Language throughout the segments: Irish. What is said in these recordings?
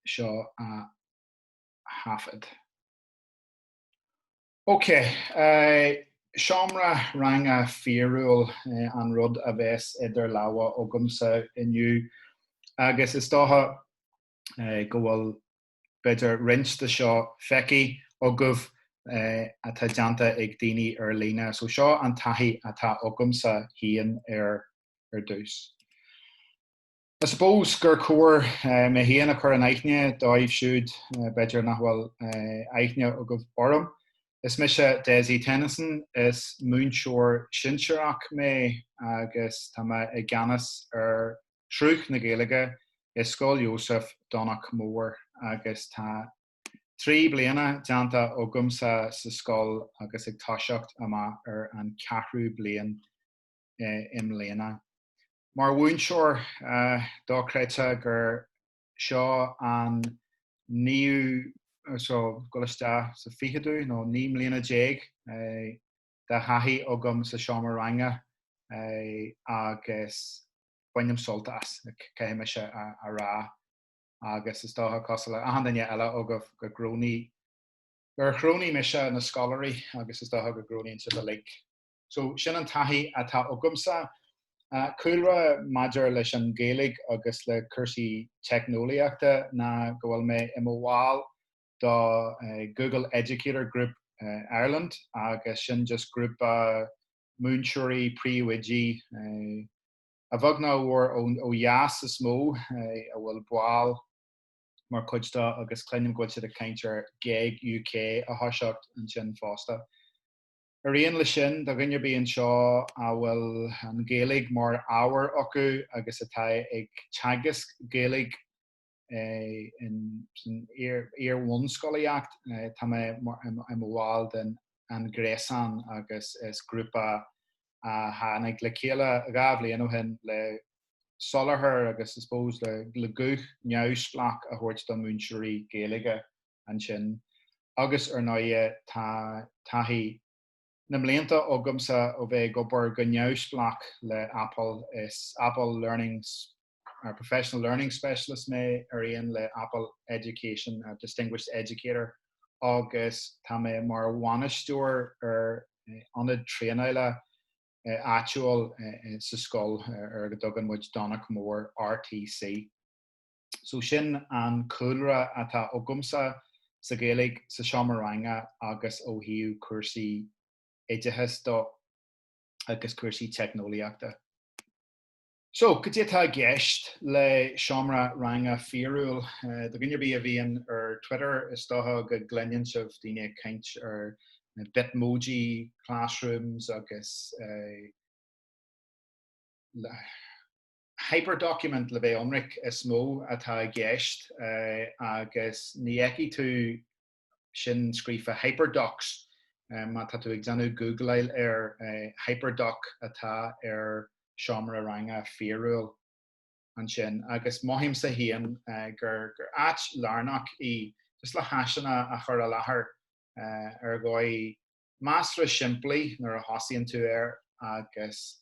seo a thaifead. Ok, seomra ranga fíorúil an rud a bheas idir lámha agamsa inniu agus is dócha go bhfuil b'fhéidir roinnt de seo feicthe agaibh atá déanta ag daoine ar líne. So seo an taithí atá agamsa féin ar dtús. I suppose gur chóir mé féin a chur in aithne dóibh siúd b'fhéidir nach bhfuil aithne agaibh orm. Is mise Dessie Tennyson, is múinteoir sinsearach mé agus tá mé i gceannas ar Shruth na Gaeilge i Scoil Iósaif, Domhnach Mór agus tá trí bliana déanta agamsa sa scoil agus ag toiseacht amach ar an cheathrú bliain i mbliana. Mar mhúinteoir dochreidte gur seo an naoú, so ag dul isteach sa ficheadú nó naoi mbliana déag de thaithí agam sa seomra ranga agus bainim sult as, caithfidh mise a rá. Agus is dócha cosúil le hachan duine eile agaibh go gcrónaigh, gur chrónaigh mise na scoláirí agus is dócha go gcrónaíonn sibh uilig. So sin an taithí atá agamsa. Cúlra maidir leis an Ghaeilge agus le cúrsaí teicneolaíochta ná go bhfuil mé i mo bhall do Google Educator Group Ireland agus sin just grúpa múinteoirí, príomhoidí, a bheag ná a mhór ó dheas is mó a bhfuil baill mar chuid dó agus cluinim go bhfuil siad ag caint ar GEG UK a thoiseacht ansin fosta. Ar aon leis sin, do dhuine ar bith anseo a bhfuil an Ghaeilge mar ábhar acu agus atá ag teagasc Gaeilge in iar-bhunscolaíocht, tá mé i mo bhall den An Gréasán agus is grúpa a tháinig le chéile dhá bhliain ó shin le soláthar agus I suppose le guth neamhspleach a thabhairt do mhúinteoirí Gaeilge. ansin agus ar ndóighe taithí na mblianta agamsa ó bheith ag obair go neamhspleách le Apple. Is Apple Learning Professional Learning Specialist mé ar aon le Apple Education Distinguished Educator agus tá mé mar bhainisteoir ar ionad traenála áitiúil sa scoil ar a dtugann muid Domhnach Mór RTC. So sin an cúlra atá agamsa sa Ghaeilge sa seomra ranga agus ó thaobh cúrsaí oideachais do agus cúrsaí teicneolaíochta. So, cad é atá i gceist le seomra ranga fíorúil? Do dhuine ar bith a bhíonn ar Twitter is dócha go gcluineann sibh daoine ag caint ar na Bitmoji classrooms agus. hyperdocument, le bheith ionraic, is mó atá i gceist agus feicfidh tú sin scríofa hyperdocs má tá tú ag déanamh gúgláil air, hyperdoc atá ar seomra ranga fíorúil ansin agus mothaímse féin gur áit lárnach í just le háiseanna a chur i láthair ar dhóigh measartha simplí nuair a thosaíonn tú air agus.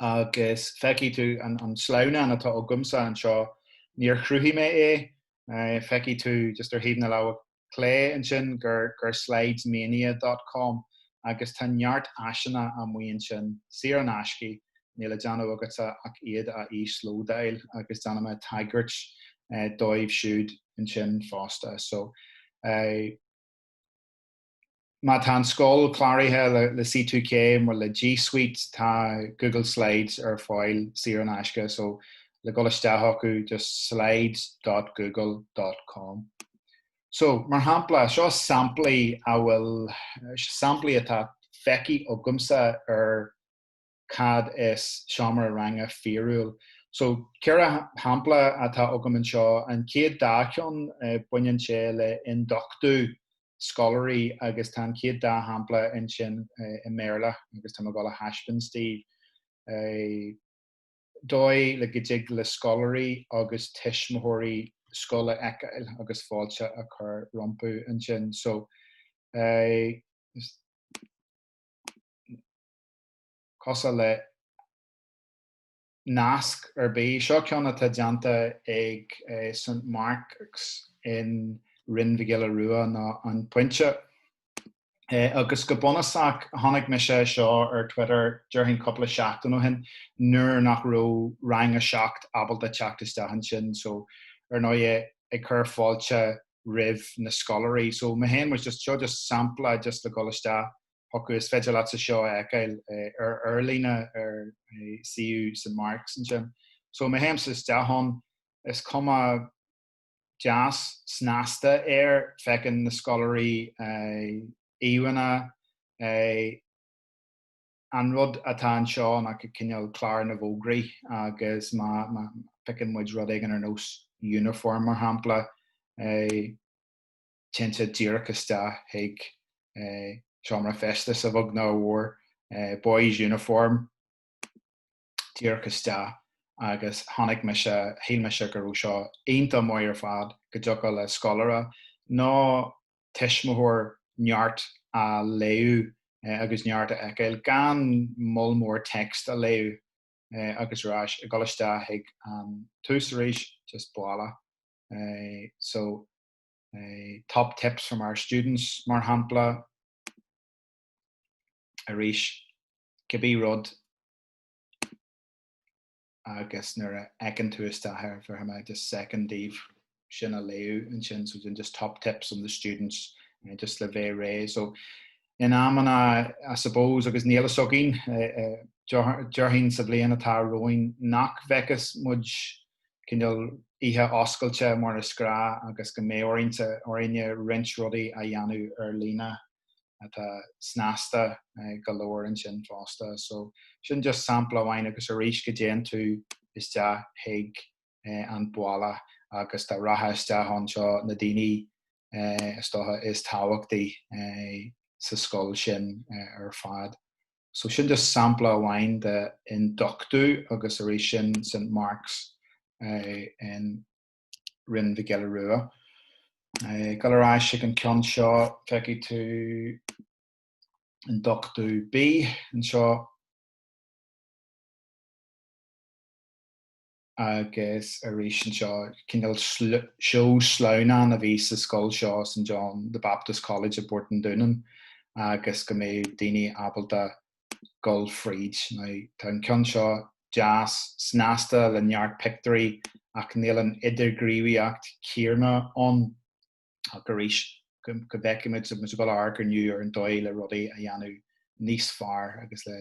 agus feicfidh tú an, an sleamhnán atá agamsa anseo, níor chruthaigh mé é, feicfidh tú just ar thaobh na láimhe clé ansin gur, gur slidesmania dot com agus tá neart áiseanna amuigh ansin, saor in aisce, níl le déanamh agatsa ach iad a íoslódáil agus déanfaidh mé tagairt dóibh siúd ansin fosta. So. Má tá an scoil cláraithe le C2K nó le G Suite tá Google Slides ar fáil saor in aisce so le dhul isteach acu just slides dot google dot com. So, mar shampla, seo samplaí a bhfuil, samplaí atá feicthe agamsa ar. cad is seomra ranga fíorúil. So, ceithre shampla atá agam anseo. An chéad dá cheann, baineann sé le ionduchtú scoláirí agus tá an chéad dá shampla ansin i mBéarla agus tá mé ag dul a thaispeáint daoibh é dóigh le go dtig le scoláirí agus tuismitheoirí scoil a fheiceáil agus fáilte a chur rompu ansin. So, is. cosúil le nasc ar bith. Seo ceann atá déanta ag St Mark's in Rinn Mhic Giolla Rua nó An Pointe. Agus go bunúsach chonaic mise é seo ar Twitter déarfainn cúpla seachtain ó shin nuair nach raibh Rang 7 ábalta teacht isteach ansin so ar ndóigh ag cur fáilte roimh na scoláirí. So mé féin was just, seo just sampla just le dhul isteach. chucu. Is féidir leatsa seo a fheiceáil ar ar líne ar suíomh St Marks ansin. So má théimse isteach ann, is cuma deas snasta air, feiceann na scoláirí íomhánna, an rud atá anseo ná cineál clár na bhfógraí agus má phiocann muid rud éigin ar nós uniform mar shampla, téann sé díreach isteach chuig seomra feistis, a bheag nó a mhór, boys' uniform, díreach isteach agus chonaic mise, shíl mise go raibh seo iontach maith ar fad, go dtiocfadh le scoláire nó tuismitheoir neart a léamh agus neart a fheiceáil gan moll mór text a léamh agus ar ais, ag dul isteach chuig an tús arís, just baile. So. Top tips from our students mar shampla. Arís, cibé rud agus nuair a fheiceann tú isteach air bhéarfaidh mé just second daoibh sin a léamh ansin so then just top tips from the students just le bheith réidh. So in amanna I suppose agus níl fhios againn, déarfainn sa bhliain atá romhainn nach bhfeicfeas muid cineál oíche oscailte mar is gnáth agus go mbeidh orainn, orainne roinnt rudaí a dhéanamh ar líne atá snasta go leor ansin fosta. So sin just sampla amháin agus arís go dtéann tú isteach chuig an bhaile agus tá rogha isteach anseo na daoine is dócha, is tábhachtaí sa scoil sin ar fad. So sin just sampla amháin de ionduchtú agus arís sin St Marks in Rinn Mhic Giolla Rua. Ag dul ar ais ag an ceann seo feicfidh tú ionduchtú B anseo. agus arís anseo. Cineál seó sleamhnán a bhí sa scoil seo, St John the Baptist College i bPort an Dúnáin agus go mbeadh daoine ábalta gul fríd. Now tá an ceann seo deas snasta le neart pictuirí ach níl an idirghníomhaíocht céarna ann. ach arís go bhfeicfimid an bhfuil aird inniu ar an dóigh le rudaí a dhéanamh níos fearr agus le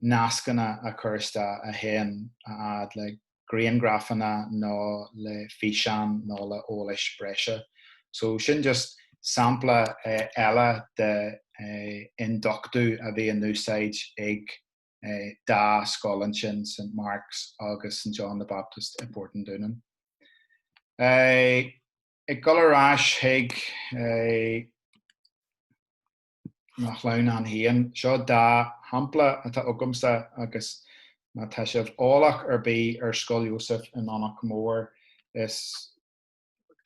nascanna a chur isteach a théann a fhad le grianghrafanna nó le físeáin nó le eolais breise. So sin just sampla eile de ionduchtú a bhí in úsáid ag dá scoil ansin St Marks agus St John the Baptist i bPort an Dúnáin. ag dul ar ais chuig an sleamhnán a haon. Seo dá shampla atá agamsa agus má tá sibh eolach ar bith ar Scoil Iósaef i nDomhnach Mór, is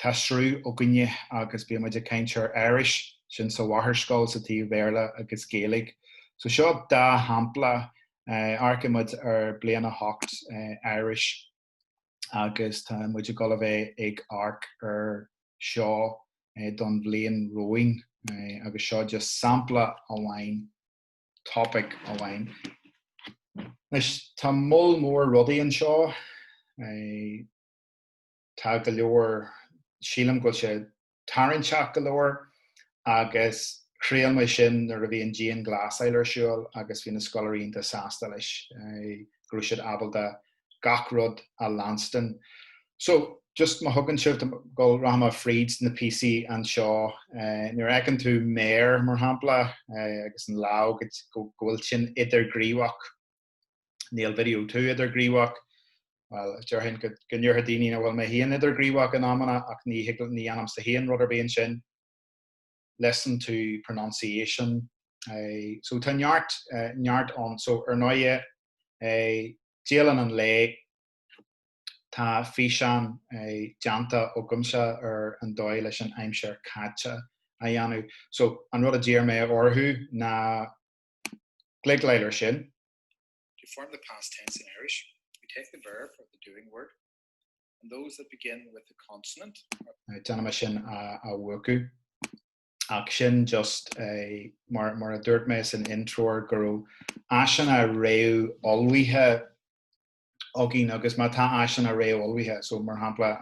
tá sruth againne agus bíonn muid ag caint ar Irish, sin sa mháthairscoil sa taobh Béarla agus Gaeilge. So seo dá shampla, amharcaimid ar bhliain a hocht, Irish. agus tá muid ag dul a bheith ag amharc ar seo don bhliain romhainn agus seo just sampla amháin, topic amháin. Anois tá moll mór rudaí anseo, tá go leor, sílim go bhfuil sé tarraingteach go leor agus thriail mé sin nuair a bhí an dianghlasáil ar siúl agus bhí na scoláirí iontach sásta leis go raibh siad ábalta gach rud a leanstan. So, just má thugann sibh dom gabhfaidh mé fríd na píosaí anseo, nuair a fheiceann tú méar, mar shampla, agus an lámh go bhfuil sin idirghníomhach, Níl video tú idirghníomhach. Bhuel, déarfainn go ndéarfadh daoine nach bhfuil mé féin idirghníomhach in amanna ach ní dhéanaimse féin rud ar bith ansin. Listen to pronunciation. So tá neart, neart ann. So ar ndóighe, dialann an lae, tá físeán déanta agamsa ar an dóigh leis an aimsir chaite a dhéanamh. So an rud a d'iarr mé orthu ná cliceáil air sin. To form the past tense in Irish, we take the verb or the doing word and those that begin with a consonant are. Déanfaidh mé sin a mhúchadh. Ach sin just mar a dúirt mé san intreoir go raibh áiseanna réamhullmhaithe againn agus má tá áiseanna réamhullmhaithe, so mar shampla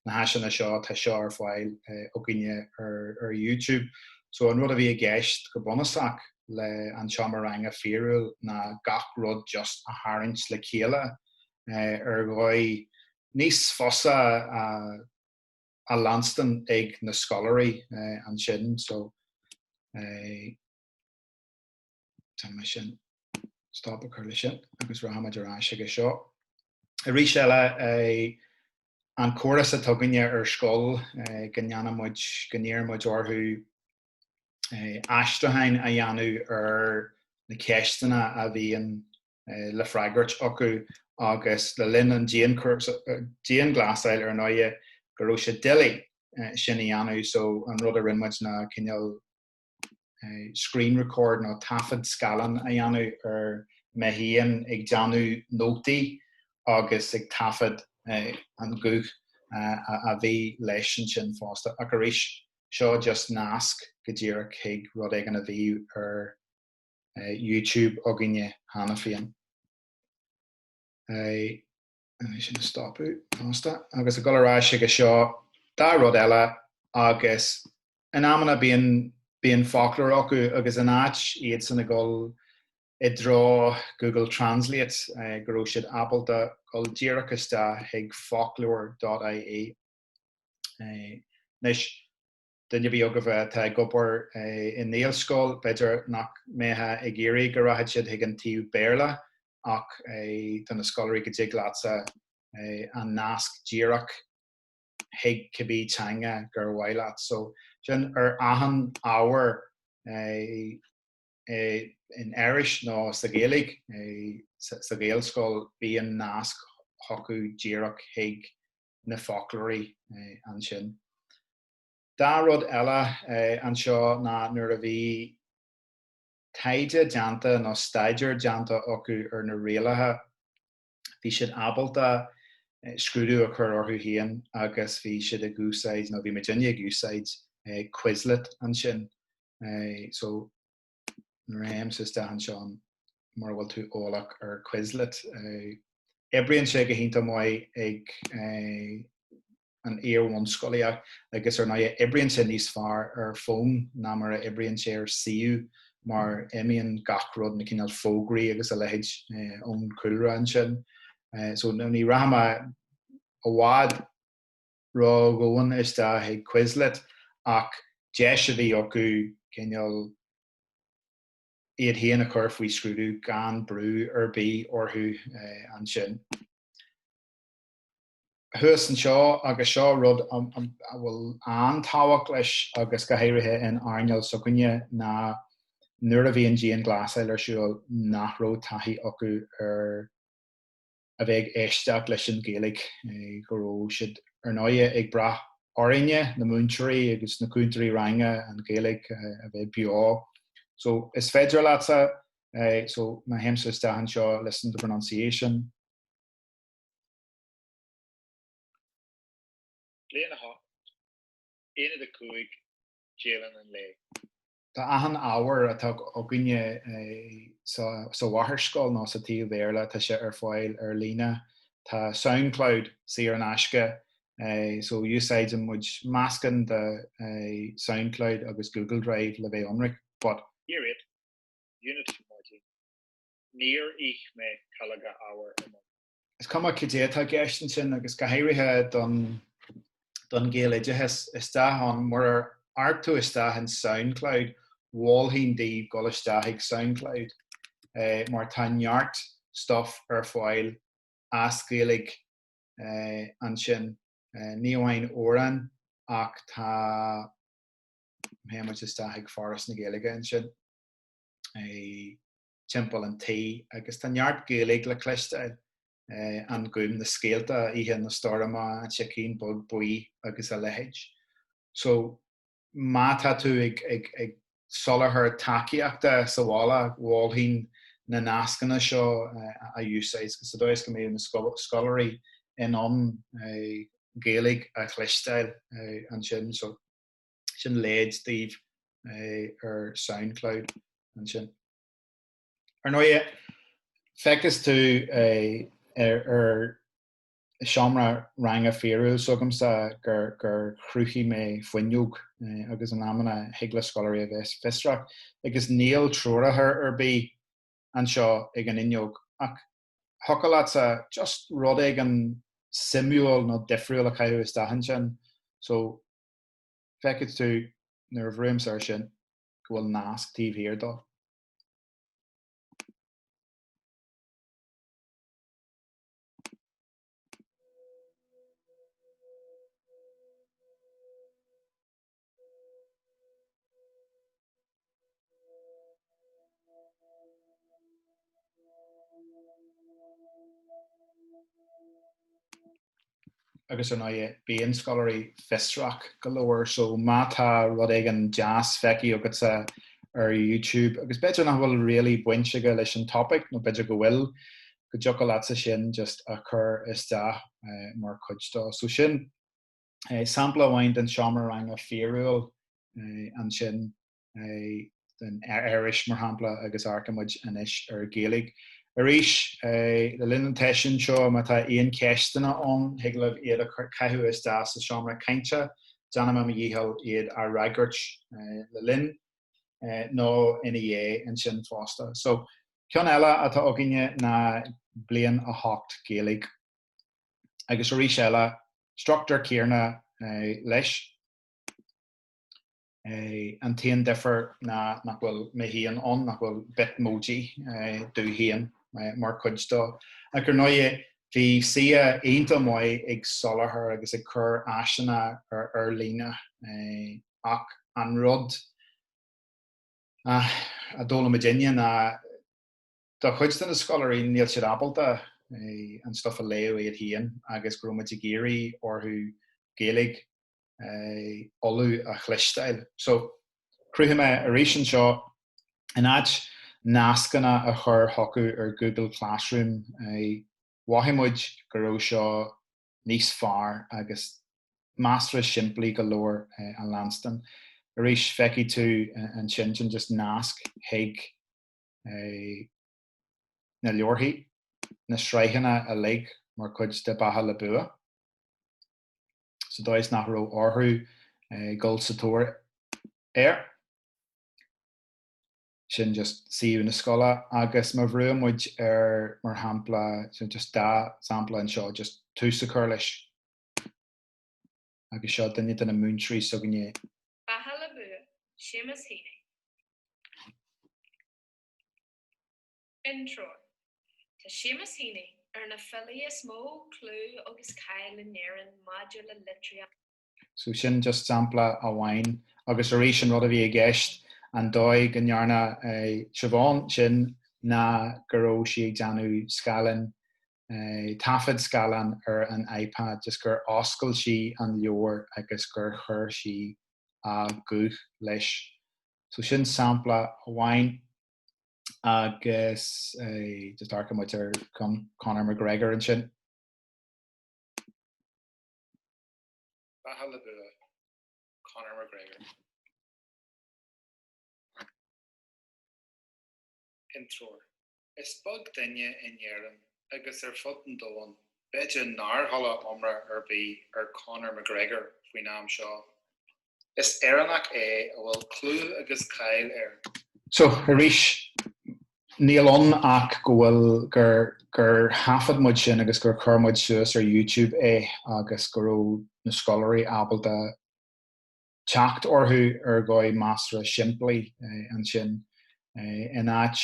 na háiseanna seo, tá seo ar fáil againne ar YouTube. So an rud a bhí i gceist go bunúsach le An Seomra Ranga fíorúil ná gach rud just a tharraingt le chéile ar dhóigh níos fusa a leanstan ag na scoláirí ansin. So. thig liom ansin stop a chur leis sin agus rachaimid ar ais chuige seo. Arís eile an córas atá againne ar scoil go ndéanaimid, go n-iarraimid orthu aistriúcháin a dhéanamh ar na ceisteanna a bhíonn le freagairt acu agus le linn an dianghlasáil ar ndóighe go raibh sé doiligh sin a dhéanamh so an rud a rinneamid ná cineál screen record nó taifead scaileán a dhéanamh ar mé féin ag déanamh nótaí agus ag taifead an guth a bhí leis ansin fosta ach arís seo just nasc go díreach chuig rud éigin a bhí ar YouTube againne cheana féin. Bhí sin a stopadh fosta. Agus ag dul ar ais aige seo dhá rud eile agus in amanna bíonn bíonn foclóir acu agus in áit iadsan ag dul i dtreo Google Translate go raibh siad ábalta dul díreach isteach chuig foclóir dot IE. Anois duine ar bith agaibh atá ag obair i nGaelscoil b'fhéidir nach mbeadh ag iarraidh go rachadh siad chuig an taobh Béarla ach do na scoláirí go dtig leatsa an nasc díreach chuig cibé teanga gur mhaith leat. So sin ar achan ábhar in Irish nó sa Ghaeilge sa Ghaelscoil bíonn nasc chucu díreach chuig na foclóirí ansin. Dhá rud eile anseo ná nuair a bhí. taighde déanta nó staidéar déanta acu ar na rialacha, bhí siad ábalta scrúdú a chur orthu féin agus bhí siad ag úsáid, nó bhí muidinne ag úsáid Quizlet ansin. So má théimse isteach anseo mura bhfuil tú eolach ar Quizlet. Oibríonn sé go hiontach maith ag. an iar-bhunscolaíocht agus ar ndóigh oibríonn sé níos fearr ar fón ná mar a oibríonn sé ar suíomh mar imíonn gach rud, na cineál fógraí agus a leithéid ón cúlra ansin. So ní rachaidh mé i bhfad ródhomhain isteach ag Quizlet ach deis a bhí acu cineál iad féin a chur faoi scrúdú gan brú ar bith orthu ansin. thuas anseo agus seo rud a bhfuil an-tábhacht leis agus go háirithe in earnáil s'againne ná nuair a bhíonn dianghlasáil ar siúl nach raibh taithí acu ar a bheith ag éisteacht leis an Ghaeilge, go raibh siad ar ndóigh ag brath orainne, na múinteoirí agus na cúntóirí ranga, an Ghaeilge a bheith beo. So is féidir leatsa, so má théimse isteach anseo, listen to pronunciation, Bliain 8, Aonad 5, Dialann an Lae. Tá achan ábhar atá againne sa mháthairscoil nó sa taobh Bhéarla tá sé ar fáil ar líne. Tá Soundcloud saor in aisce so úsáideann muid meascán de Soundcloud agus Google Drive le bheith ionraic but. Year Eight, Unit Four, My Day, Níor ith mé calóga arbhair i mbun. is cuma cad é atá i gceist ansin agus go háirithe don, don Ghaeloideachas isteach ann, murar amharc tú isteach in Soundcloud, mholfainn daoibh dul isteach ag Soundcloud eh, mar tá neart stuff ar fáil as Gaeilge eh, ansin, eh, ní amháin amhráin ach tá théann muid isteach ag Foras na Gaeilge ansin. Eh, timpeall an tí agus tá neart Gaeilge le cloisteáil, An Gúm, na scéalta, Oíche na Stoirme, An Sicín Beag Buí agus a leithéid. So má tá tú ag soláthar tacaíochta sa bhaile, mholfainn na nascanna seo a úsáid sa dóigh is go mbeidh na scoláirí in ann Gaeilge a chloisteáil ansin. sin leid daoibh ar Soundcloud ansin. Ar ndóighe, feicfeas tú ar seomra ranga fíorúil s'agamsa gur chruthaigh mé fuinneog agus in amanna thig le scoláirí a bheith fiosrach agus níl treoracha ar bith anseo ag an fhuinneog ach thiocfadh leatsa just rud éigin suimiúil nó difriúil a chaitheamh isteach ansin so Feicfidh tú, nuair a bhrúimse air sin, go bhfuil nasc taobh thiar dó. agus ar ndóighe bíonn scoláirí fiosrach go leor so má tá rud éigin deas feicthe agatsa ar YouTube agus b'fhéidir nach bhfuil really baint aige leis an topic nó b'fhéidir go bhfuil go dtiocfadh leatsa sin just a chur isteach mar chuid dó so sin Sampla amháin den seomra ranga fíorúil ansin den Irish, mar shampla, agus amharcfaidh muid anois ar Ghaeilge. Arís, le linn an tseisiúin seo, má tá aon cheisteanna ann, thig libh iad a chaitheamh isteach sa tseomra cainte, déanfaidh mé mo dhícheall iad a fhreagairt le linn nó ina dhiaidh ansin fosta. So, ceann eile atá againne ná Bliain 8 Gaeilge. agus arís eile, struchtúr céanna leis. An t-aon difear ná nach bhfuil mé féin ann, nach bhfuil Bitmoji domh féin mar chuid dó. Ach ar ndóighe, bhí siad iontach maith ag soláthar agus ag cur áiseanna ar líne. Ach an rud a d'fhoghlaim muidinne ná. Do chuid de na scoláirí níl siad ábalta an stuff a léamh iad féin agus go raibh muid ag iarraidh orthu Gaeilge Uladh a chloisteáil. So, chruthaigh mé arís anseo, in áit nascanna a chur chucu ar Google Classroom, mhothaigh muid go raibh seo níos fearr agus measartha simplí go leor a leanstan. Arís, feicfidh tú ansin, sin just nasc chuig. na leabharthaí, na sraitheanna uilig mar chuid de Beatha le Bua, sa dóigh is nach raibh orthu dhul sa tóir air. Sin just suíomh na scoile agus má bhrúann muid ar mar shampla, just dhá sampla anseo, just tús a chur leis. agus seo duine de na múinteoirí s'againne é. Beatha le bua, Seamus Heaney. Intreoir, Tá Seamus Heaney ar na filí is mó clú agus cáil in Éirinn maidir le litríocht. So sin just sampla amháin agus arís an rud a bhí i gceist, an dóigh go ndearna Siobhán sin ná go raibh sí ag déanamh scáileán taifead scáileáin ar an iPad just gur oscail sí an leabhar agus gur chuir sí a guth leis. So sin sampla amháin agus just amharcfaidh muid ar Conor McGregor ansin. Beatha le bua, Conor McGregor. intreoir. Is beag duine in Éirinn agus ar fud an domhain, b'fhéidir, nár chuala iomrá ar bith ar Conor McGregor faoin am seo. Is Éireannach é a bhfuil clú agus cáil air. So, arís, níl ann ach go bhfuil, gur, gur thaifead muid sin agus gur chuir muid suas ar YouTube é agus go raibh na scoláirí ábalta, teacht orthu ar dhóigh measartha simplí ansin. In áit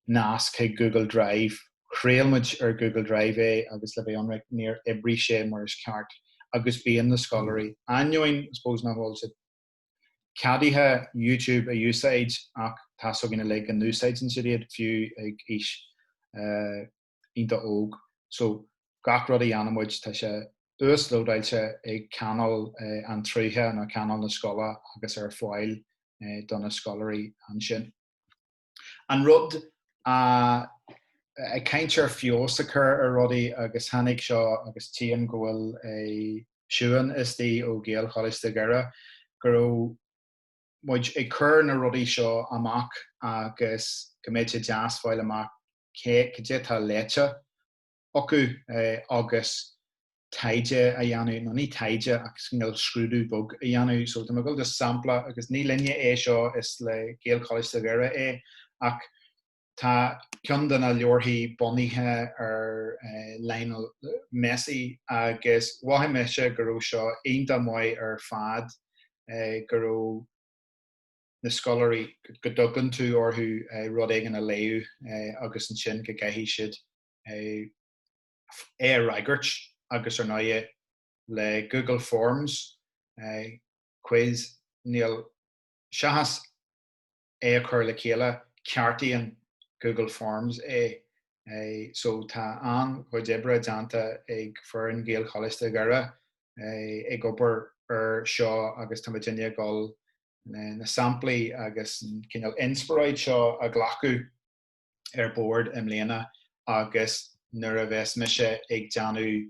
nasc chuig Google Drive, thriail muid ar Google Drive é agus le bheith ionraic níor oibrigh sé mar is ceart agus bíonn na scoláirí, ainneoin I suppose nach bhfuil siad ceadaithe YouTube a úsáid ach tá a fhios againn uilig go n-úsáideann siad iad, fiú ag aois a. iontach óg so gach rud a ghní muid tá sé uaslódáilte ag Cainéal an tSrutha nó Cainéal na Scoile agus ar fáil do na scoláirí ansin. An rud a Ag caint ar feabhas a chur ar rudaí agus tháinig seo agus tchím go bhfuil Siúan istigh ó Ghaelcholáiste Dhoire go raibh, muid ag cur na rudaí seo amach agus go mbeadh sé deas fáil amach caidé atá léite acu agus taighde a dhéanamh, nó ní taighde ach cineál scrúdú beag a dhéanamh. So tá mé ag dul just sampla agus ní linne é seo, is le Gaelcholáiste Dhoire é ach, Tá ceann de na leabharthaí bunaithe ar Lionel Messi agus mhothaigh mise go raibh seo iontach maith ar fad, go raibh na scoláirí, go dtugann tú orthu rud éigin a léamh agus ansin go gcaithfidh siad é a fhreagairt agus ar ndóighe le Google Forms, quiz, níl seachas. é a chur le chéile, ceartaíonn Google Forms é. So tá an-chuid oibre déanta ag foireann Ghaelcholáiste Dhoire ag obair ar seo agus tá muidinne ag dul na samplaí agus an cineál inspioráid seo a ghlacadh ar bord i mbliana agus nuair a bheas mise ag déanamh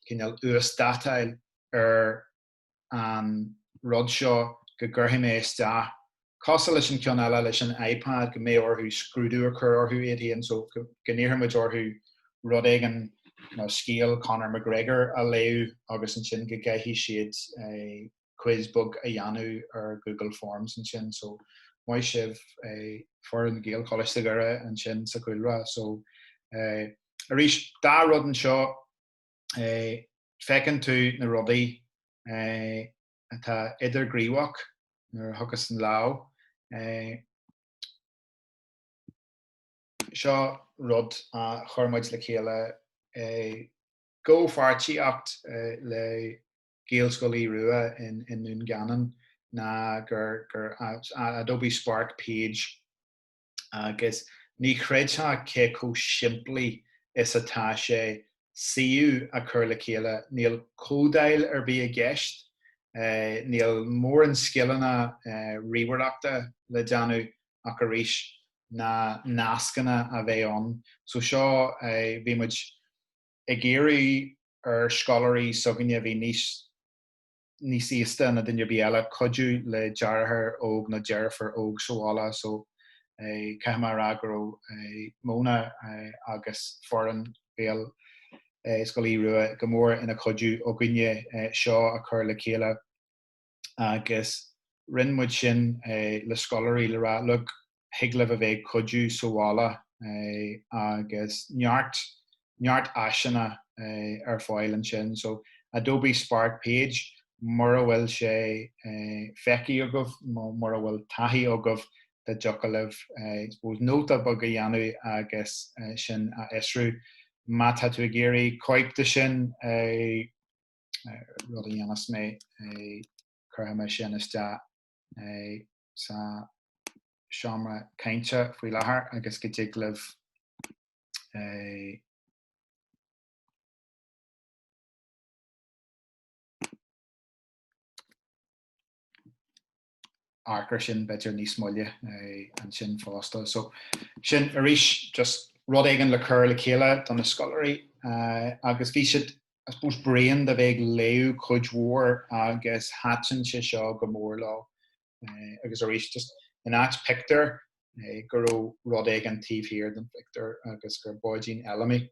cineál uasdátáil ar an rud seo go gcuirfidh mé isteach, cosúil leis an ceann eile leis an iPad go mbeidh orthu scrúdú a chur orthu iad fhéin so go n-iarrfaidh muid orthu rud éigin nó scéal Conor McGregor a léamh agus ansin go gcaithfidh siad quiz beag a dhéanamh ar Google Forms ansin so maith sibh foireann Ghaelcholáiste Dhoire ansin sa Chúlra so arís dhá rud anseo. Feiceann tú na rudaí atá idirghníomhach nuair a thagas an lámh. Seo rud a chuir muid le chéile i gcomhpháirtíocht le Gaelscoil Aoidh Rua i nDún Geanainn ná gur Adobe Spark page. agus ní chreidfeá cé chomh simplí is atá sé suíomh a chur le chéile, níl códáil ar bith i gceist, níl móran scileanna ríomhaireachta le déanamh ach arís na nascanna a bheith ann. So seo, bhí muid ag iarraidh ar scoláirí s'againne a bhí níos. níos aosta ná duine ar bith eile, cuidiú le deartháir óg nó deirfiúr óg sa bhaile so caithfidh mé a rá go raibh Móna agus foireann Ghaelscoil Aodha Rua go mór ina chuidiú againne seo a chur le chéile agus rinne muid sin le scoláirí le rá, look, thig libh a bheith ag cuidiú sa bhaile agus neart, neart áiseanna ar fáil ansin. So, Adobe Spark Page, mura bhfuil sé feicthe agaibh nó mura bhfuil taithí agaibh dá dtiocfadh libh I suppose nóta beag a dhéanamh agus sin a fhiosrú. Má tá tú ag iarraidh cóip de sin, rud a dhéanfas mé, cuirfidh mé sin isteach. sa seomra cainte faoi láthair agus go dtig libh amharc air sin b'fhéidir níos moille ansin fosta. So sin arís just rud éigin le cur le chéile do na scoláirí agus bhí siad I suppose bréan de bheith ag léamh cuid mhór agus thaitin sé seo go mór leo. Agus arís just in áit pictiúir go raibh rud éigin taobh thiar den phictiúr agus gur Báidín Fheilimí.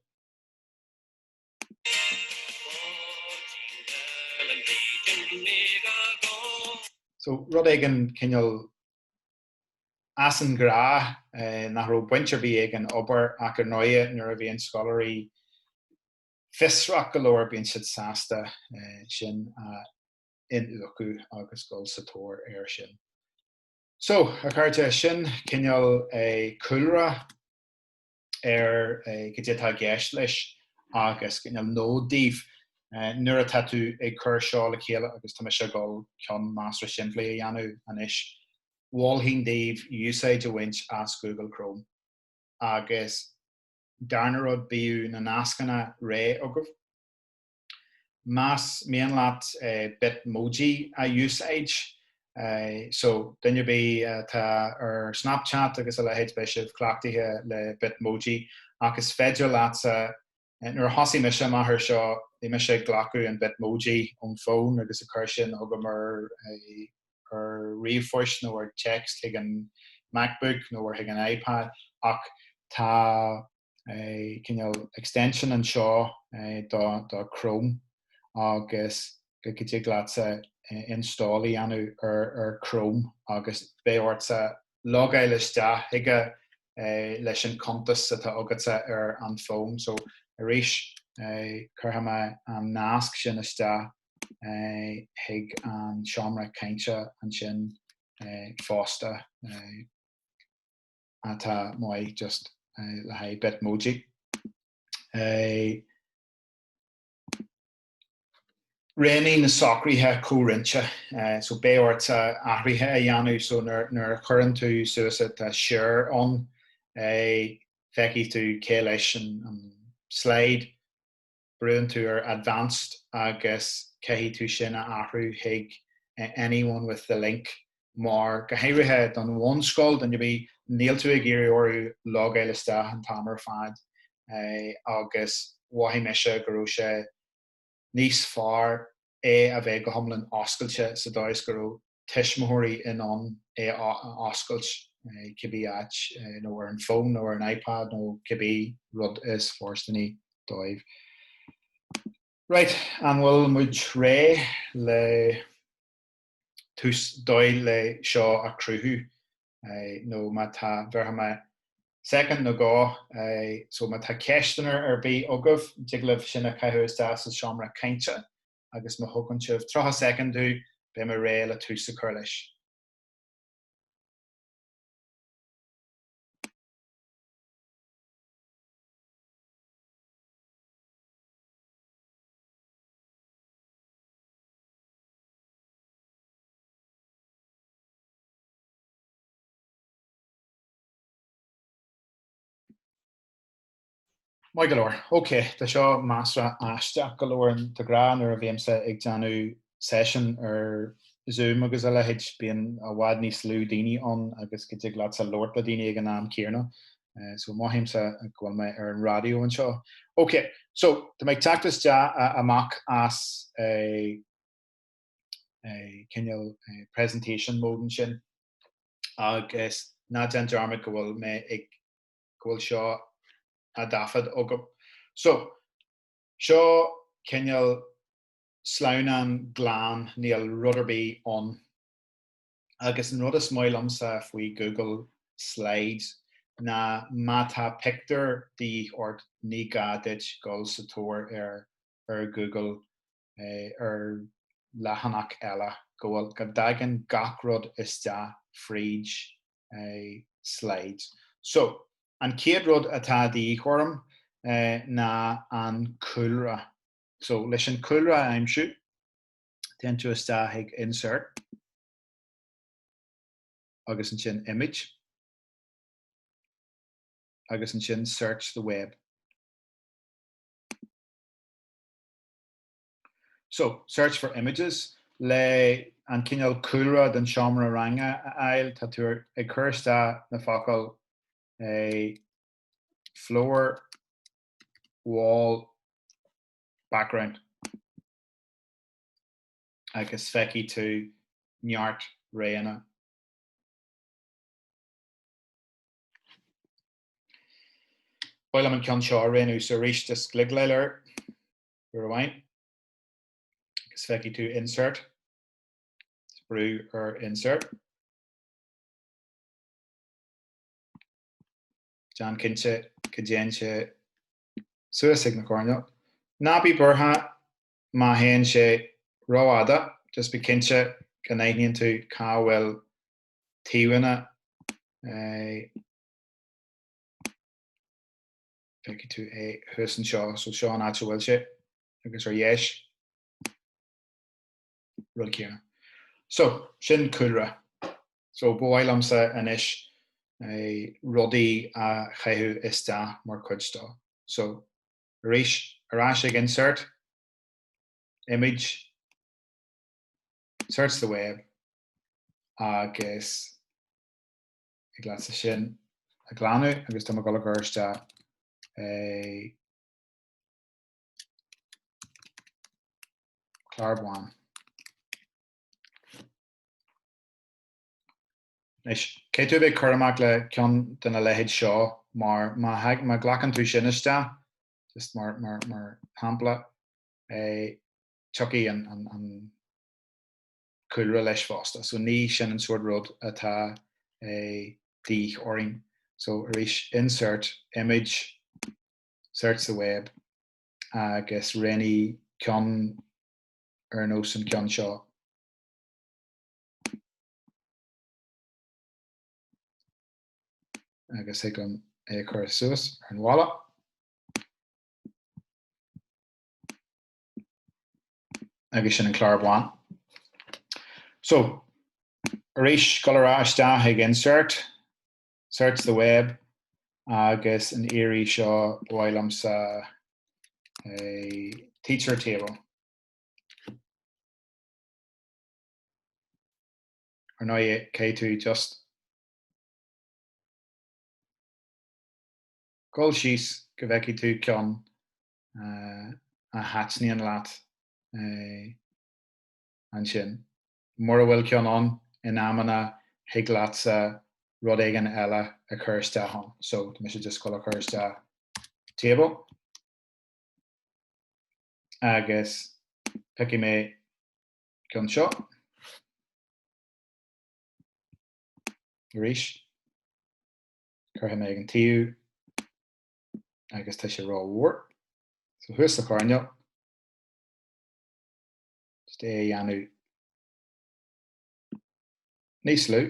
So rud éigin cineál as an ghnáth nach raibh baint ar bith ag an obair ach ar ndóigh nuair a bhíonn scoláirí, fiosrach go leor bíonn siad sásta sin a iniúchadh agus dul sa tóir air sin. So, a chairde, sin cineál cúlra ar cad é atá i gceist leis agus cineál nod daoibh nuair atá tú ag cur seo le chéile agus tá mise ag gabháil ceann measartha simplí a dhéanamh anois. Mholfainn daoibh úsáid a bhaint as Google Chrome agus. darna rud bíodh na nascanna réidh agaibh. Más mian leat Bitmoji a úsáid, so duine ar bith atá ar Snapchat agus a leithéid beidh sibh cleachtaithe le Bitmoji ach is féidir leatsa, nuair a thosaigh mise amach ar seo bhí mise ag glacadh an Bitmoji ón fón agus ag cur sin chugam ar ar ríomhphoist nó ar text chuig an MacBook nó ar chuig an iPad ach tá cineál extension anseo do Chrome agus go dtig leatsa install a dhéanamh ar Chrome agus beidh ortsa logáil isteach chuige leis an cuntas atá agatsa ar an bhfón. So arís cuirfidh mé an nasc sin isteach. chuig an seomra cainte ansin fosta atá maith just le haghaidh Bitmoji. Réigh mé na socruithe comhroinnte, so beidh ort athruithe a dhéanamh, so nuair a chuireann tú suas tá share ann, feicfidh tú cé leis an slide, brúann tú ar advanced agus caithfidh tú sin a athrú chuig anyone with the link mar go háirithe don bhunscoil don dóigh, níl tú ag iarraidh orthu logáil isteach an t-am ar fad agus mhothaigh mise go raibh sé níos fearr é a bheith go hiomlán oscailte sa dóigh is go raibh tuismitheoirí in ann é a oscailt cibé áit nó ar an bhfón nó ar an iPad nó cibé rud is fóirsteanaí dóibh. Right, an bhfuil muid réidh le tús, dóigh le seo a chruthú nó má tá, bheirfidh mé soicind nó dó, so má tá ceisteanna ar bith agaibh, tig libh sin a chaitheamh isteach sa seomra cainte agus má thugann sibh 30 soicind domh beidh mé réidh le tús a chur leis. Maith go leor. OK, tá seo measartha aisteach go leor, ionsar a rá, nuair a bhímse ag déanamh seisean ar Zoom agus a leithéid, bíonn i bhfad níos lú daoine ann agus go dtig leatsa labhairt le daoine ag an am céanna. So mothaímse go bhfuil mé ar an raidió anseo. OK, so tá mé ag teacht isteach amach as cineál presentation mode ansin agus ná déan dearmad go bhfuil mé ag go bhfuil seo á dtaifead agam. So, seo cineál sleamhnán glan, níl rud ar bith ann. Agus an rud is maith liomsa faoi Google Slides ná má tá pictiúr de dhíth ort ní gá duit dul sa tóir air ar Google ar leathanach eile, go bhfuil, go dtagann gach rud isteach fríd eh, slides. So, an chéad rud atá de dhíth orm eh, ná an cúlra. So, leis an cúlra a aimsiú, téann tú isteach ag insert agus ansin image agus ansin search the web. So, search for images, le an cineál cúlra den seomra ranga a fháil, tá tú ag cur isteach na focail floor, wall, background agus feicfidh tú neart roghanna. Ba mhaith liom an ceann seo a roghnú, so arís just cliceáil air. uair amháin agus feicfidh tú insert, is brúigh ar insert. Déan cinnte go dtéann sé suas ag na coirnéil. Ná bí buartha má théann sé rófhada, just bí cinnte go n-aithníonn tú cá bhfuil taobhanna. Feicfidh tú é thuas anseo, so seo an áit a bhfuil sé, agus ar dheis, rud céanna. So, sin cúlra. So, ba mhaith liomsa anois eh, rudaí a chaitheamh isteach mar chuid dó. So, arís, ar ais ag insert, image, search the web, agus thig leat sin a ghlanadh agus tá mé ag dul a chur isteach eh clár bán. Anois, caithfidh tú a bheith cúramach le ceann de na leithéid seo mar má ghlacann tú sin isteach, just mar shampla, tiocfaidh an. cúlra leis fosta. So ní sin an sórt rud atá de dhíth orainn. So arís, insert image, search the web agus roghnaigh ceann ar nós an ceann seo. Agus thig liom é a chur suas ar an bhalla. agus sin an clár bán. So, arís, dul ar ais isteach ag insert, search the web agus an iarraidh seo ba mhaith liomsa eh teacher table. Ar ndóighe, caithfidh tú just dul síos go bhfeicfidh tú ceann a thaitníonn leat ansin. Mura bhfuil ceann ann in amanna thig leatsa rud éigin eile a chur isteach ann. So mise just ag gabháil a chur isteach table agus piocfaidh mé ceann seo arís. Cuirfidh mé ag an taobh agus tá sé ró mhór. So thuas sa choirnéal. Just é a dhéanamh níos lú.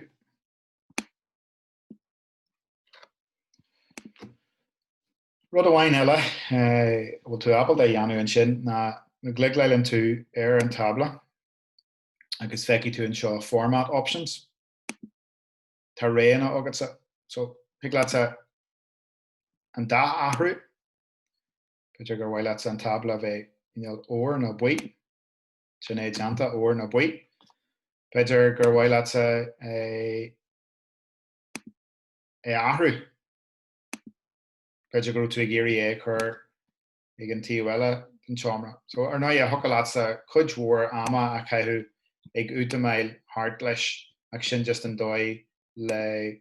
Rud amháin eile a bhfuil tú ábalta a dhéanamh ansin ná má chliceáileann tú ar an tábla agus feicfidh tú anseo Format Options. Tá roghanna agatsa. So thig leatsa an dath a athrú. B'fhéidir gur mhaith leatsa an tábla a bheith cineál óir nó buí. Sin é déanta, óir nó buí. B'fhéidir gur mhaith leatsa é a athrú. B'fhéidir go bhfuil tú ag iarraidh é a chur ag an taobh eile den tseomra. So, ar ndóighe, thiocfadh leatsa cuid mhór ama a chaitheamh ag útamáil thart leis ach sin just an dóigh le.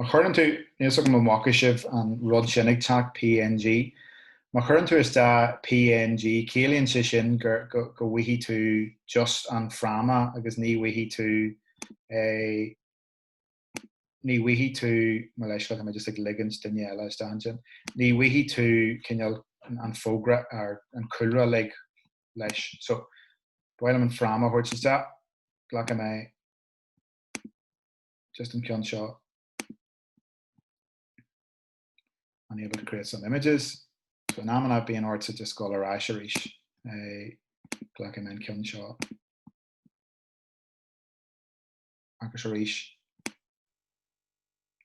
Má chuireann tú, níl 's agam an bhfaca sibh an rud sin ag teacht, png, má chuireann tú isteach png ciallaíonn sé sin go bhfaighidh tú just an fráma agus ní bhfaighidh tú eh ní bhfaighidh tú, mo leithscéal tá mé just ag ligint duine eile isteach ansin, ní bhfaighidh tú cineál an fógra ar an cúlra uilig leis so ba mhaith liom an fráma a thabhairt isteach, glacfaidh mé. just an ceann seo unable to create some images so in amanna bíonn ortsa just dul ar ais arís glacfaidh mé an ceann seo agus arís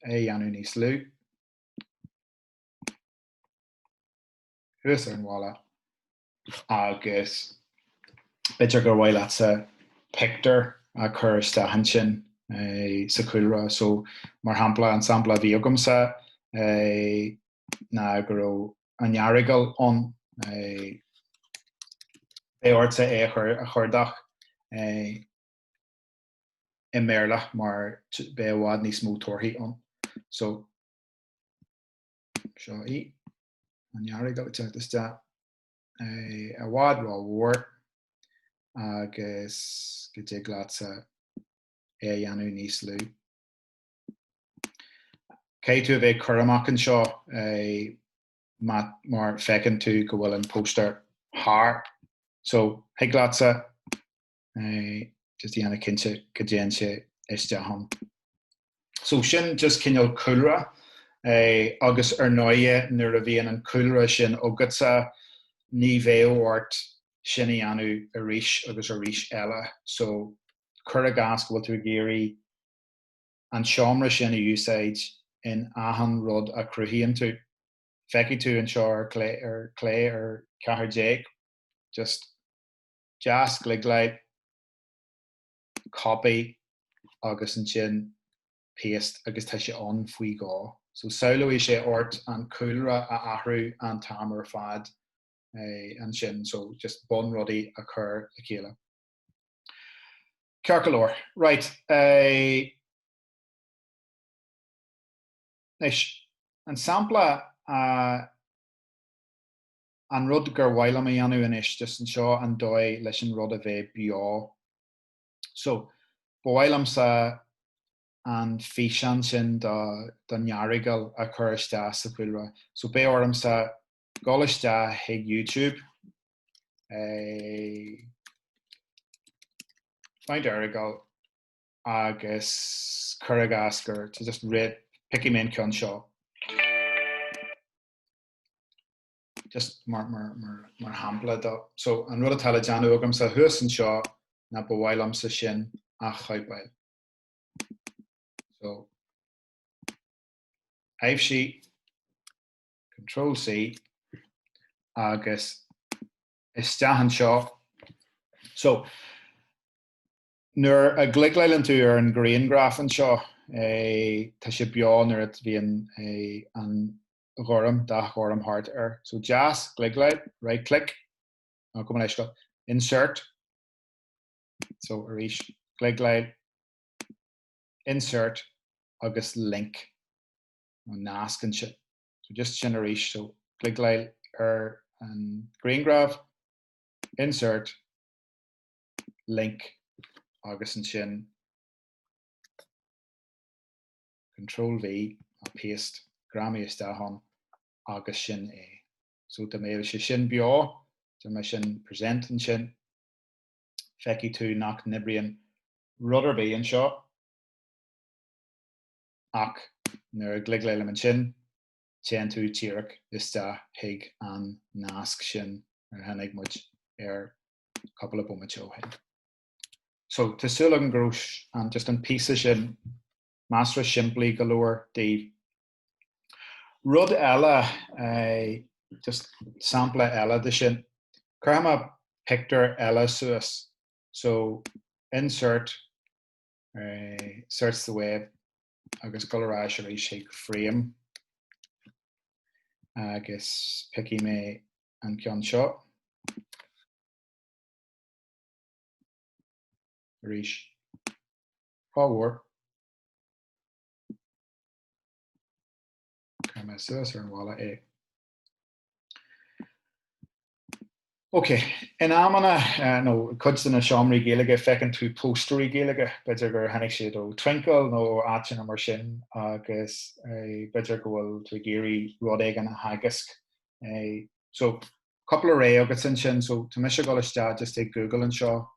é dhéanamh níos lú thuas ar an bhalla Agus b'fhéidir gur mhaith leatsa pictiúr a chur isteach ansin sa chúlra. So, mar shampla, an sampla a bhí agamsa ná go raibh an Earagail ann. Beidh ortsa é a chuardach i mBéarla mar beidh i bhfad níos mó torthaí ann. So, seo í. an nEarragal teacht isteach eh i bhfad ró mhór agus go dtig leatsa é a dhéanamh níos lú? Caithfidh tú a bheith ag cur amach anseo mar feiceann tú go bhfuil an póstaer thar so thig leatsa just a dhéanamh cinnte go dtéann sé isteach ann. So sin just cineál cúlra agus ar ndóigh nuair a bhíonn an cúlra sin agatsa ní bheidh ort sin a dhéanamh arís agus arís eile. So cuir i gcás go bhfuil tú ag iarraidh an seomra sin a úsáid in achan rud a chruthaíonn tú. Feicfidh tú anseo ar chlé ar 14, just deaschliceáil, copy agus ansin paste agus tá sé ann faoi dhó. So sábhálfaidh sé ort an cúlra a athrú an t-am ar fad ansin, so just bun rudaí a chur le chéile. Ceart go leor, right. Anois, an sampla a. An rud gur mhaith liom a dhéanamh anois just anseo an dóigh leis an rud a bheith beo. So, ba mhaith liomsa an físeán sin don Earagail a chur isteach sa chúlra. So beidh ormsa dhul isteach chuig YouTube, eh, find Errigal agus cur i gcás gur, just right, piocfaidh mé an ceann seo. just mar shampla dó, so an rud atá le déanamh agamsa thuas anseo ná ba mhaith liomsa sin a chóipeáil. so aibhsigh Control-C agus isteach anseo. so nuair a chliceálann tú ar an ghrianghraf anseo eh tá sé beo nuair a bhíonn eh an ghorm, dath ghorm thart air. So deaschliceáil, right click, nach cuma leis go, insert, so arís cliceáil, insert agus link, nó nasc ansin. So just sin arís, so cliceáil ar an grianghraf, insert, link agus ansin, Control V ná paste, greamaigh isteach ann agus sin é. So dá mbeadh sé sin beo, dá mbeadh sé in present ansin, feicfidh tú nach n-oibríonn rud ar bith anseo ach nuair a ghliogálaim ansin, téann tú díreach isteach chuig an nasc sin ar tháinig muid air cupla bomaite ó shin. So tá súil agam go raibh just an píosa sin measra simplí go leor daoibh. Rud eile, just sampla eile de sin, cuirfidh mé pictiúr eile suas, so insert, search the web agus ag dul ar ais arís chuig frame agus piocfaidh mé an ceann seo arís. Fabhar. Cuirfidh mé suas ar an bhalla é. Ok. In amanna, nó cuid de na seomraí Gaeilge, feiceann tú póstairí Gaeilge. B'fhéidir gur tháinig siad ó Twinkl nó ó áiteanna mar sin agus b'fhéidir go bhfuil tú ag iarraidh rud éigin a theagasc. So, cúpla rogha agat ansin. So, tá mise ag dul isteach just ag Google anseo.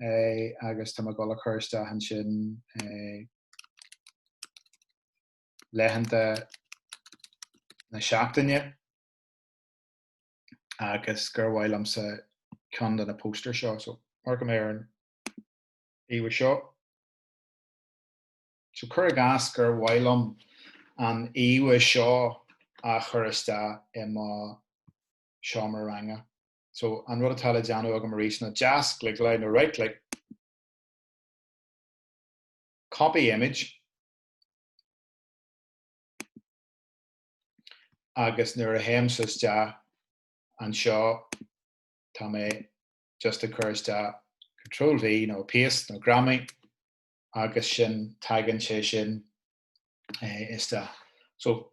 agus tá mé ag dul a chur isteach ansin laethanta na seachtaine agus gur mhaith liomsa ceann de na póstaeir seo so amharcaim ar an íomhá seo. So cuir i gcás gur mhaith liom an íomhá seo a chur isteach i mo seomra ranga. So an rud atá le déanamh agam arís ná deasghliogáil nó right click copy image agus nuair a théimse isteach anseo tá mé just ag cur isteach control V nó paste nó greamaigh agus sin tagann sé sin isteach. So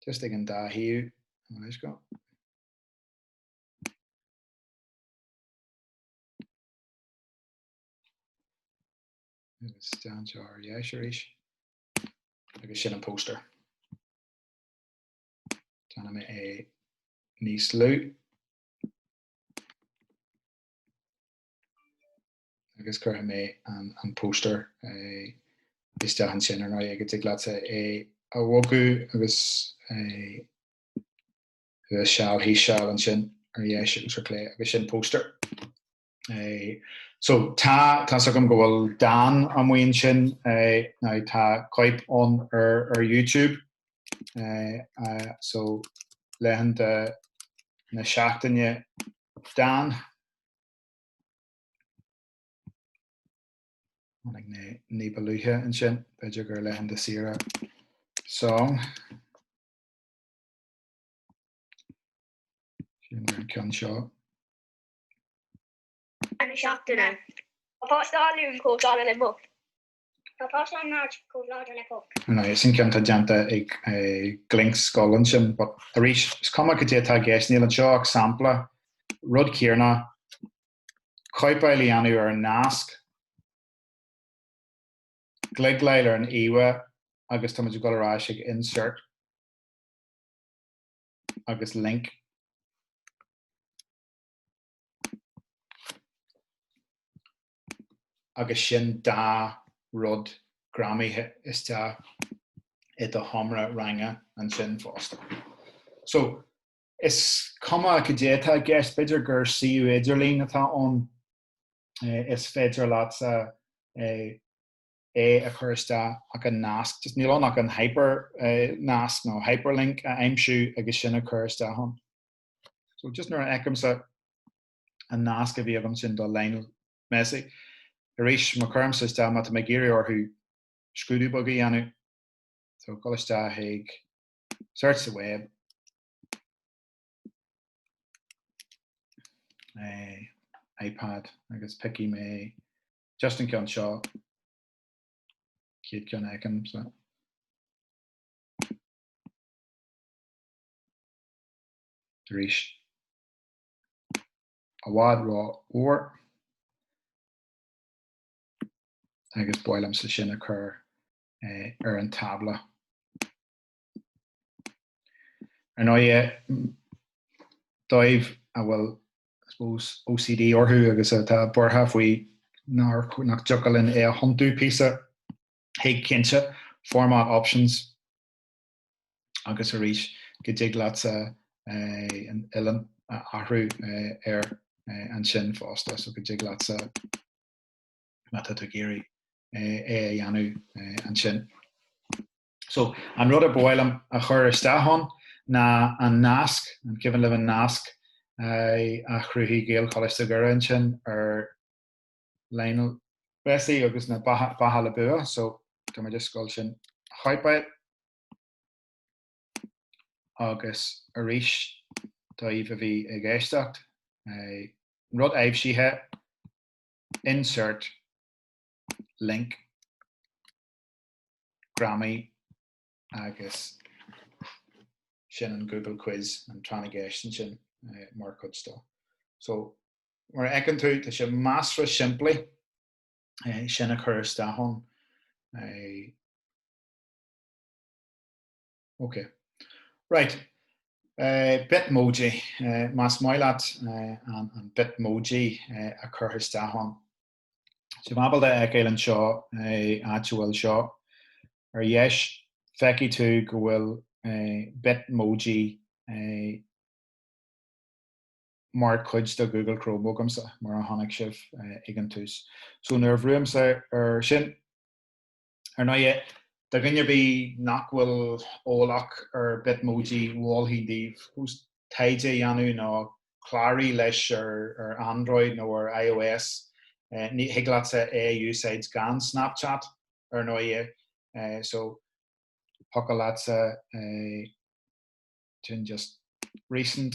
Just ag an dá thaobh gabh mo leithscéal. Agus stand seo ar dheis arís. Agus sin an póster. Déanfaidh mé é níos lú. agus cuirfidh mé an póstaer isteach ansin ar ndóigh agus tig leatsa é a bhogadh agus é seal thíos seal ansin ar dheis, chlé agus sin póstaer. So tá, tá's agam go bhfuil dán an maidin sin nó tá cóip ann ar YouTube so laethanta na seachtaine dán. Tháinig mé ní ba luaithe ansin, b'fhéidir gur laethanta saoire song. Sin é an ceann seo. An seachtaine. Tá páiste an Luain chomh láidir le muc. Tá páiste na Máirt chomh láidir le poc. Now, sin ceann tá déanta ag Gaelscoil ansin, but arís, is cuma cad é atá i gceist, níl anseo ach sampla, rud céanna, cóipeáil a dhéanamh ar an nasc, gliogáil ar an íomhá agus táimid ag dul ar ais chuig Insert agus Link. agus sin dá rud greamaithe isteach i do sheomra ranga ansin fosta. So, is cuma cad é atá i gceist, b'fhéidir gur suíomh idirlín atá ann, is féidir leatsa é a chur isteach ach an nasc, just níl ann ach an hipearnasc nó hyperlink a aimsiú agus sin a chur isteach ann. So, just nuair a fheicimse. an nasc a bhí agam sin do Lionel Messi. Arís, má chuirimse isteach, má tá mé ag iarraidh orthu scrúdú beag a dhéanamh, so gabháil isteach chuig search the web, iPad agus piocfaidh mé just an ceann seo, chéad ceann a fheicim, so. Arís. i bhfad rómhór agus ba mhaith liomsa sin a chur ar an tábla. Ar ndóigh daoibh a bhfuil I suppose OCD orthu agus atá buartha faoi nach dtiocfadh linn é a thiontú píosa, thig cinnte, format options, agus arís go dtig leatsa an uillinn a athrú air ansin fosta so go dtig leatsa má tá tú ag iarraidh é a dhéanamh ansin. So an rud ar ba mhaith liom a chur isteach ann ná an nasc, an cuimhin libh an nasc a chruthaigh Gaelcholáiste Dhoire ansin ar Lionel Messi agus na beatha le bua so tá mé just ag gabháil sin a chóipeáil agus arís daoibh a bhí ag éisteacht rud aibhsithe insert link greamaigh agus sin an Google quiz an tráth na gceist ansin mar chuid dó so Mar a fheiceann tú, tá sé measartha simplí sin a chur isteach ann. Ok. Right. Bitmoji. Más maith leat an Bitmoji a chur isteach ann. Tá mé ábalta a fheiceáil anseo áit a bhfuil seo. Ar dheis, feicfidh tú go bhfuil Bitmoji mar chuid de Google Chrome agamsa, mar a chonaic sibh ag an tús. So nuair a bhrúimse ar sin, ar ndóighe, do dhuine ar bith nach bhfuil eolach ar Bitmoji, mholfainn daoibh just taighde a dhéanamh nó cláraigh leis ar Android nó ar ios. Ní thig leatsa é a úsáid gan Snapchat, ar ndóighe, so thiocfadh leatsa é. Sin just recent.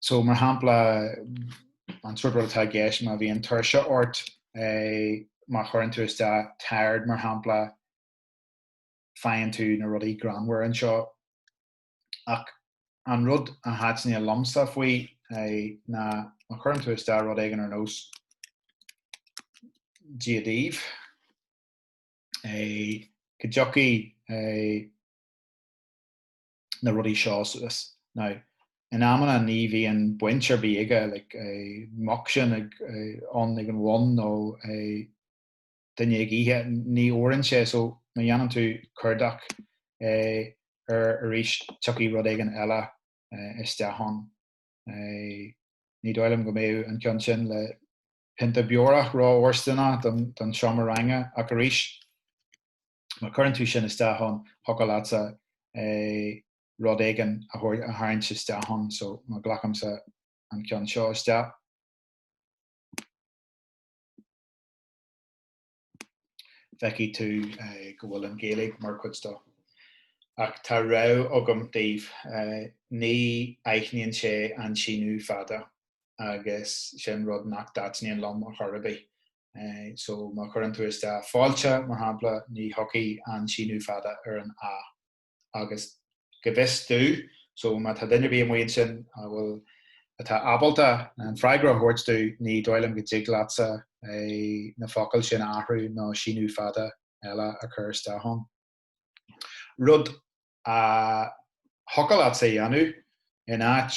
So mar shampla an sórt rud atá i gceist má bhíonn tuirse ort má chuireann tú isteach tired mar shampla faigheann tú na rudaí greannmhar anseo. Ach an rud a thaitníonn liomsa faoi ná má chuireann tú isteach rud éigin ar nós Dia daoibh go dtiocfaidh na rudaí seo suas. Now, in amanna ní bhíonn baint ar bith aige, like, eh, muc sin ag, eh, ann ag an bhun nó, eh, duine ag ithe, ní fhóireann sé, so má dhéanann tú cuardach, eh, air arís tiocfaidh rud éigin eile, eh, isteach ann. Eh, ní dóigh liom go mbeadh an ceann sin le pionta beorach ró-fhóirsteanach don, don seomra ranga, ach arís, má chuireann tú sin isteach ann, thiocfadh leatsa rud éigin a tharraingt isteach ann, so má ghlacaimse an ceann seo isteach. feicfidh tú go bhfuil an Ghaeilge mar chuid dó. Ach tá rabhadh agam daoibh, ní aithníonn sé an síniú fada agus sin rud nach dtaitníonn liom ar chor ar bith. So má chuireann tú isteach fáilte, mar shampla, ní thiocfaidh an síniú fada ar an 'a'. Agus go bhfios domh, so má tá duine ar bith amuigh ansin a bhfuil, atá ábalta an freagra a thabhairt domh, ní dóigh liom go dtig leatsa na focail sin a athrú nó síniú fada eile a chur isteach ann. Rud a thiocfadh leatsa a dhéanamh, in áit.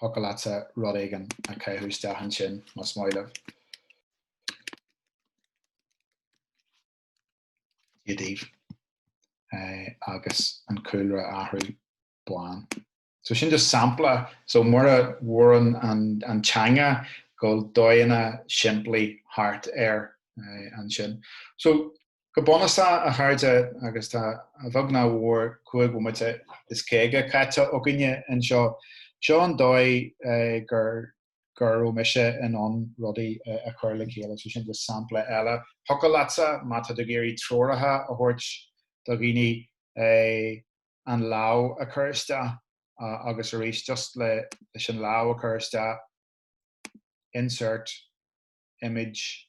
thiocfadh leatsa rud éigin a chaitheamh isteach ansin, más maith libh. Dia daoibh. agus an cúlra a athrú bán. So sin just sampla, so mura bhfóireann an teanga go bhfuil dóigheanna simplí thart air eh, ansin. So Go bunúsach, a chairde, agus tá, a bheag ná a mhór, cúig bhomaite is caoga caite againne anseo, seo an dóigh gur raibh mise in ann rudaí a chur le chéile, so sin just sampla eile. Thiocfadh leatsa, má tá tú ag iarraidh treoracha a thabhairt do dhaoine, an lámh a chur isteach agus arís, just le, leis an lámh a chur isteach, insert image,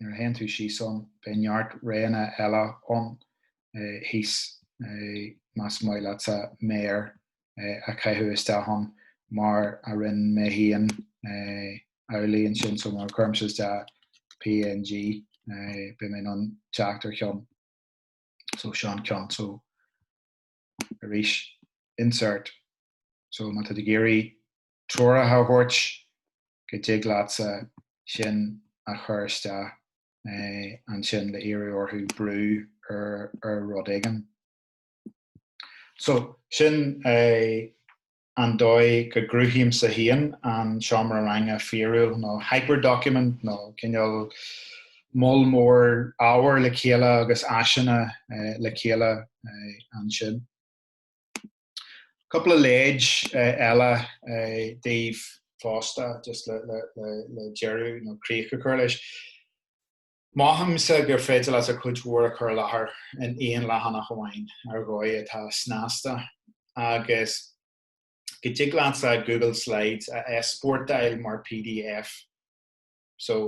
nuair a théann tú síos ann beidh neart roghanna eile ann thíos más maith leatsa méar a chaitheamh isteach ann mar a rinne mé féin ar líne ansin so nuair a chuirimse isteach png beidh mé in ann teacht ar cheann so sin an ceann so arís insert. So má tá tú ag iarraidh treoracha a thabhairt go dtig leatsa sin a chur isteach ansin le iarraidh orthu brú ar ar rud éigin. So sin é. an dóigh go gcruthaímse féin an seomra ranga fíorúil nó hyper-document nó cineál moll mór ábhair le chéile agus áiseanna le chéile ansin. Cúpla leid eile daoibh fosta just le deireadh nó críoch a chur leis. Mothaímse gur féidir leatsa cuid mhór a chur i láthair in aon leathanach amháin ar dhóigh atá snasta agus go dtig leatsa Google Slides a easpórtáil mar pdf so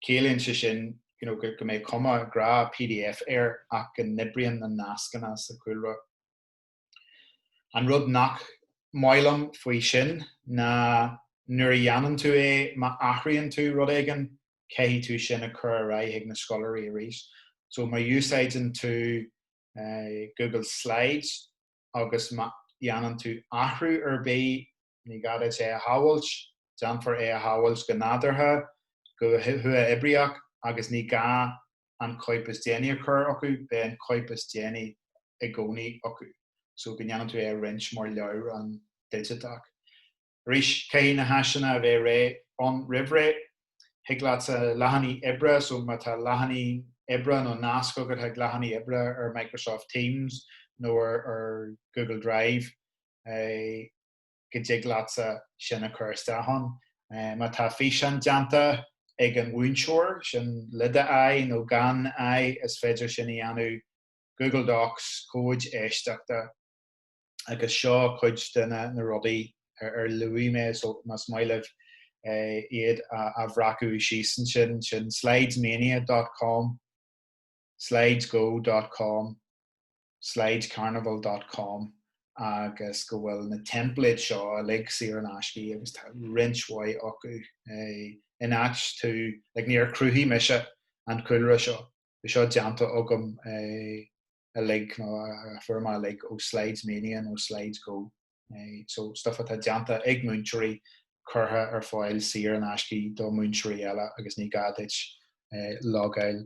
ciallaíonn sé sin you know go mbeidh cuma ghnáth pdf air ach go n-oibríonn na nascanna sa chúlra. An rud nach maith liom faoi sin ná nuair a dhéanann tú é, má athraíonn tú rud éigin, caithfidh tú sin a chur ar aghaidh ag na scoláirí arís. So má úsáideann tú Google Slides agus má dhéanann tú athrú ar bith, ní gá duit é a shábháilt, déanfar é a shábháilt go nádúrtha, go huathoibríoch agus ní gá an cóip is déanaí a chur acu, beidh an cóip is déanaí i gcónaí acu, so go ndéanann tú é a roinnt mar leabhrán digiteach. Arís, caithfidh na háiseanna a bheith réidh ann roimhré. Thig leatsa leathanaigh oibre, so má tá leathanaigh oibre nó nasc agat chuig leathanaigh oibre ar Microsoft Teams nó ar Google Drive, go dtig leatsa sin a chur isteach ann. Má tá físeán déanta ag an mhúinteoir, sin le do aghaidh nó gan aghaidh, is féidir sin a dhéanamh, Google Docs, comhaid éisteachta. Agus seo cuid de na rudaí ar luaigh mé, so má's maith libh iad a bhreacadh síos ansin, sin slidesmania dot com. Slidesgo dot com, Slidescarnival dot com agus go bhfuil na templates seo uilig saor in aisce agus tá roinnt mhaith acu in áit, tú, like níor chruthaigh mise an cúlra seo, bhí seo déanta agam uilig nó a fuair mé uilig ó Slidesmania nó Slidesgo, so stuff atá déanta ag múinteoirí curtha ar fáil saor in aisce do mhúinteoirí eile agus ní gá duit logáil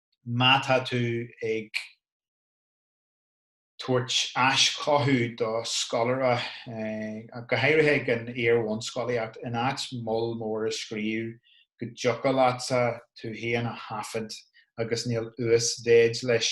má tá tú ag tabhairt aischothú do scoláire, go háirithe ag an iar-bhunscolaíocht, in áit moll mór a scríobh go dtiocfadh leatsa tú féin a thaifeadadh agus níl uasmhéid leis.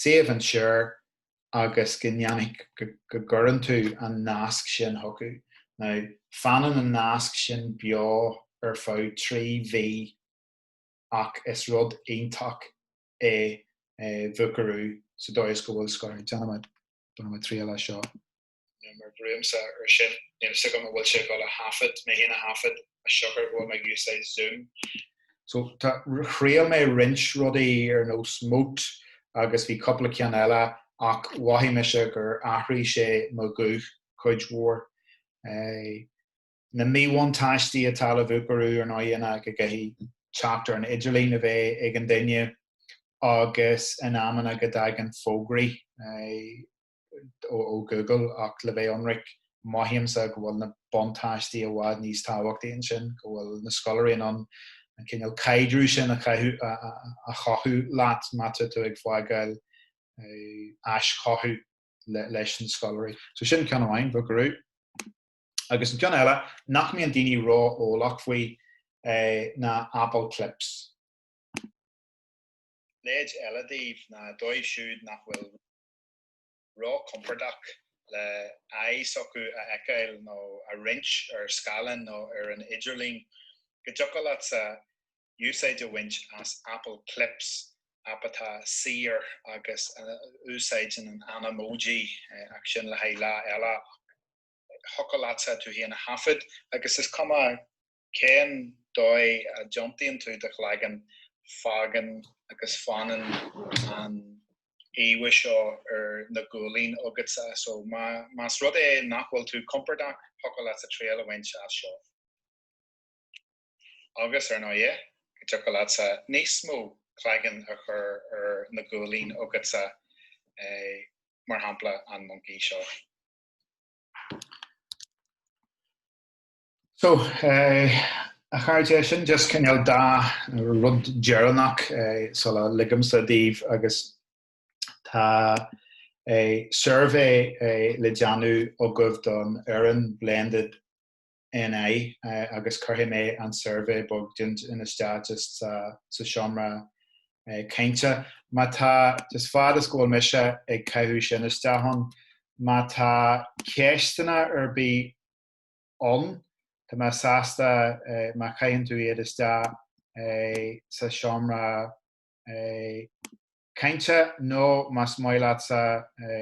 suíomh ansin agus go ndéanfaidh, go gcuireann tú an nasc sin chucu. Now, fanann an nasc sin beo ar feadh trí mhí ach is rud iontach é Vocaroo sa dóigh is go bhfuil scor. Déanfaidh mé triail as seo. nó má bhrúimsa ar sin. Níl fhios agam an bhfuil sé ag dul a thaifead, mé fhéin a thaifead, as siocair go bhfuil mé ag úsáid Zoom. So tá, thriail mé roinnt rudaí ar nós Mote agus bhí cúpla ceann eile ach mhothaigh mise gur athraigh sé mo ghuth cuid mhór. Na míbhuntáistí atá le Vocaroo ar ndóigh ná go gcaithfidh teacht ar an idirlíon a bheith ag an duine agus in amanna go dtagann fógraí. ó Google ach le bheith ionraic maímse go bhfuil na buntáistí i bhfad níos tábhachtaí ansin, go bhfuil na scoláirí in ann an cineál caidrimh sin a chothú leat má tá tú ag fágáil aischothú leis na scoláirí. So sin ceann amháin, Vocaroo. Agus an ceann eile nach mbíonn daoine ró-eolach faoi ná Apple Clips. Leid eile daoibh nó dóibh siúd nach bhfuil. ró-chompordach le aghaidh s'acu a fheiceáil nó a roinnt ar scáileán nó ar an idirlíon, go dtiocfadh leatsa úsáid a bhaint as Apple Clips, aip atá saor agus a úsáideann an Animoji, ach sin le haghaidh lá eile. Thiocfadh leatsa tú féin a thaifead agus is cuma cén dóigh a dtiontaíonn tú do chlaigeann? Fágann agus fanann an íomha seo ar na guaillí agatsa. So, más rud é nach bhfuil tú compordach, thiocfadh leatsa triail a bhaint as seo. Agus, ar ndóigh, go dtiocfadh leatsa níos mó claigeann a chur ar na guaillí agatsa, mar shampla, an moncaí seo. So, a chairde, sin just cineál dá rud deireanach sula ligimse daoibh agus tá suirbhé le déanamh agaibh don fhoireann Blended NI agus cuirfidh mé an suirbhé beag dinn isteach just sa seomra cainte. Má tá, just fad is go bhfuil mise ag caitheamh sin isteach, má tá ceisteanna ar bith ann. Tá mé sásta má chaitheann tú iad isteach sa tseomra cainte nó más maith leatsa.